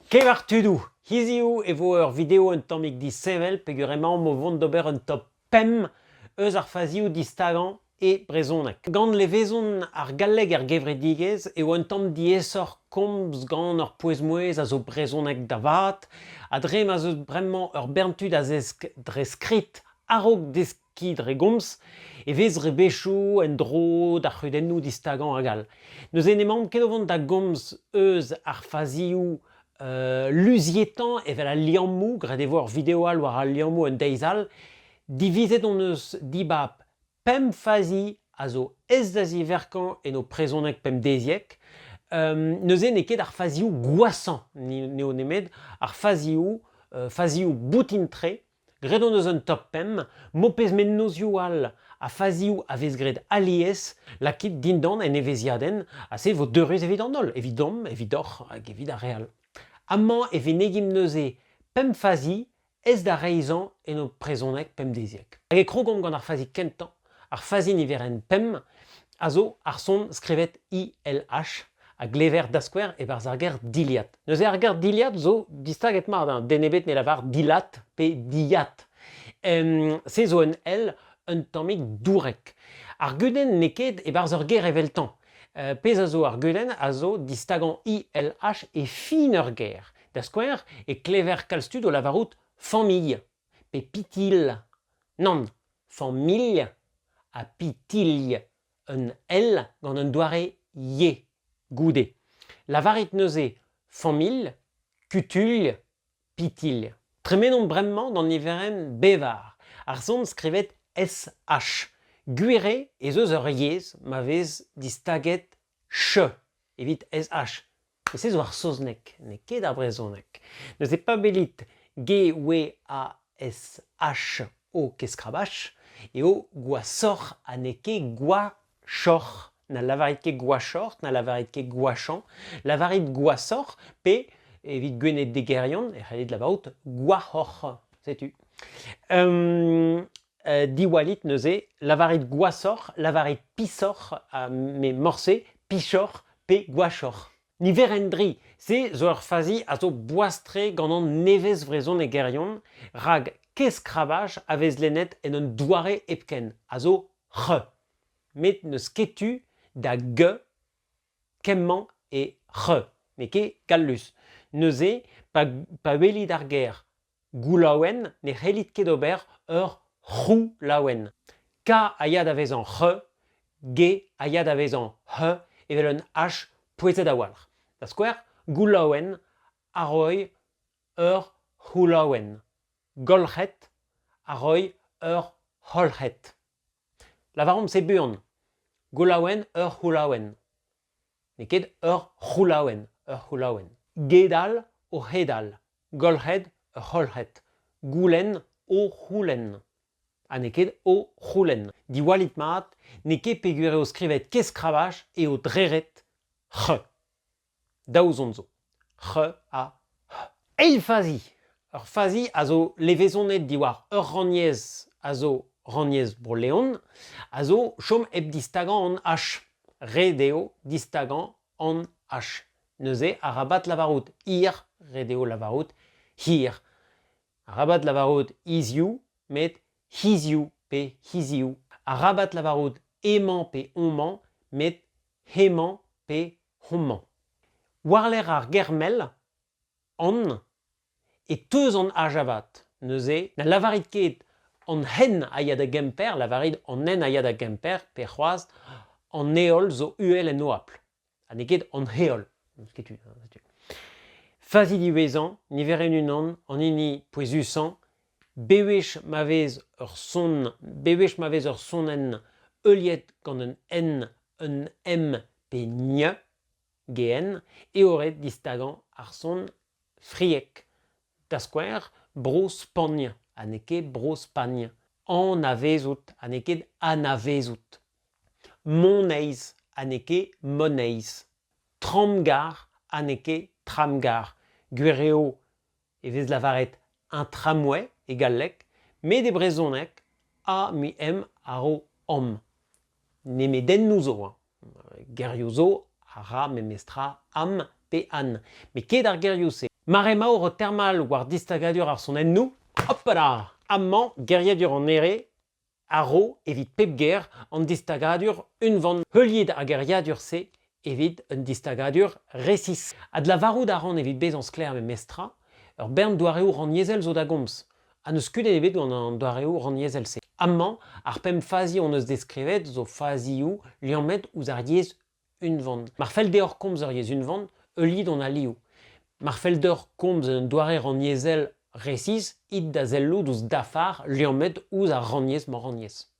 Kemer tudoù. Hiziv e vo ur video un tammig disheñvel peger emaomp o vont d'ober un top pemp eus ar fazioù distagañ e brezhoneg. Gant levezon ar galleg er gevredigezh eo un tamm diaesoc'h komz gant ur pouez-mouezh a zo brezhoneg da vat ha dre ma 'z eus bremañ ur bern tud a zesk dre skrid a-raok deskiñ ki dre gomz e vez rebechou en-dro d'ar c'heudennou distagañ hag all. Neuze n'emaomp ket o vont da gomz eus ar faziou euh, luzietañ evel al liammou, graet e vo ur video all war al liammou un deiz all. Divizet hon eus dibab pemp fazi a zo ez da ziverkañ en ho prezoneg pemdeziek. Euh, neuze n'eo ket ar faziou gwashañ n'eo nemet ar faziou, euh, faziou boutin-tre Graet hon eus un top pemp, m'ho pez mennozhioù all ha fazioù a vez graet alies, lakit dindan en evezhiadenn ha se vo deurus evit an holl, evidomp, evidoc'h hag evit ar re all. Amañ e venegimp neuze pemp fazi aes da reizhañ en ho prezhoneg pemdeziek. Hag e krogomp gant ar fazi kentañ Ar fazi niverenn pemp a zo ar son skrivet ILH a glever da skouer e-barzh ar ger dilhad. Neuze ar ger dilhad zo distaget-mat. Hein. Den ebet ne lavar dilhat pe dilhat. se zo un L un tammig dourek. Ar gudenn n'eo ket e-barzh ur ger eveltañ. Euh, pezh a zo ar gudenn a zo distagañ ILH e fin ur ger. Da skouer e klever kalz tud o lavarout famille. Pepitilh nann, familh ha pitilh un L gant un doare y goude. Lavarit neuze familh, kutulh, pitilh. Tremenomp bremañ d'an niverenn bevar. Ar son skrivet SH. Gwir eo ez eus ur yezh ma vez distaget ch evit sh e se zo ar saozneg n'eo ket ar brezhoneg neuze pabelit g-w-a-s-h o keskrabach eo gwashoc'h ha n'eo ket gwashoc'h na lavarit ket gwashoc'h na lavarit ket gwashañ lavarit gwashoc'h pe evit gwened degerion e c'hellit lavarout gwac'hoc'h setu diwallit neuze, lavarit gwashoc'h, lavarit pisoc'h, me morse, pichoc'h pe gwashoc'h. Niverenn dri, se zo ur fazi a zo boas-tre gant an nevez vrezhonegerion, rak kez-skrabaj a vez lennet en un doare hepken, a zo ch. Met n'eus ket tu da g kemmañ e ch, n'eo ket gallus. Neuze, pa welit ar ger goulaouenn ne c'hellit ket ober ur c'houlaouenn. K a ya da vezañ ch, G a ya da vezañ h evel un h pouezet a-walc'h. Da skouer, goulaouenn a roy ur c'houlaouenn. Golc'het a roy ur c'holc'het. Lavaomp se buan. Goulaouenn ur c'houlaouenn. N'eo ket ur c'houlaouenn, ur c'houlaouenn. Gedal o c'hedal, golc'hed ur c'holc'hed, goulenn o c'houlenn. Ha n'eo ket o c'houlenn. Diwallit mat, n'eo ket peogwir eo skrivet kez-skrabaj eo dreret ch. Daou zont zo. c'h a h eil fazi ur fazi a zo levezonet diwar ur rannyezh a zo rannyezh Bro-Leon a zo chom hep distagañ an h ret eo distagañ an h neuze arabat lavarout hir ret eo lavarout hir arabat lavarout hiziv met hiziv pe hiziv arabat lavarout emañ pe omañ met hemañ pe homañ. War-lerc'h ar ger-mell, an, e teus an H avat. Neuze na lavarit ket an hen a ya da Gemper, lavarit an nen a ya da Gemper, pe c'hoazh an heol zo uhel en oabl. Ha n'eo ket an heol. Setu. Fazi diwezhañ, niverenn unan, an hini pouezusañ, bewech ma vez ur son bewech ma vez ur sonenn heuliet gant un n un m pe ñ geen eo ret distagañ ar son friek da skouer bro-spagn ha n'eo ket bro-spagn anavezout ha n'eo ket anavezout moneiz ha n'eo ket moneiz tramgar ha n'eo ket tramgar gwir eo e vez lavaret un tramway e galleg, met e brezhoneg a me em a ro am. Nemedennoù zo hañ. Gerioù zo a ra memestra am pe an. Met ket ar gerioù-se. Mar emaour o termal war distagadur ar sonennoù, hopala! amañ geriadur an Here a ro evit pep ger an distagadur unvan heuliet ar geriadur-se evit un distagadur resis. Adlavarout a ran evit bezañ sklaer memestra, ur bern doareoù rannyezhel zo da gomz, ha n'eus kudenn ebet gant an doareoù rannyezhel-se. Amañ, ar pemp fazi hon eus deskrivet zo fazioù liammet ouzh ar yezh unvan. Mar fell deoc'h komz ur yezh unvan, heulit hon alioù. Mar fell deoc'h komz un doare rannyezhel resis, it da sellout ouzh dafar liammet ouzh ar rannyezh-mañ-rannyezh.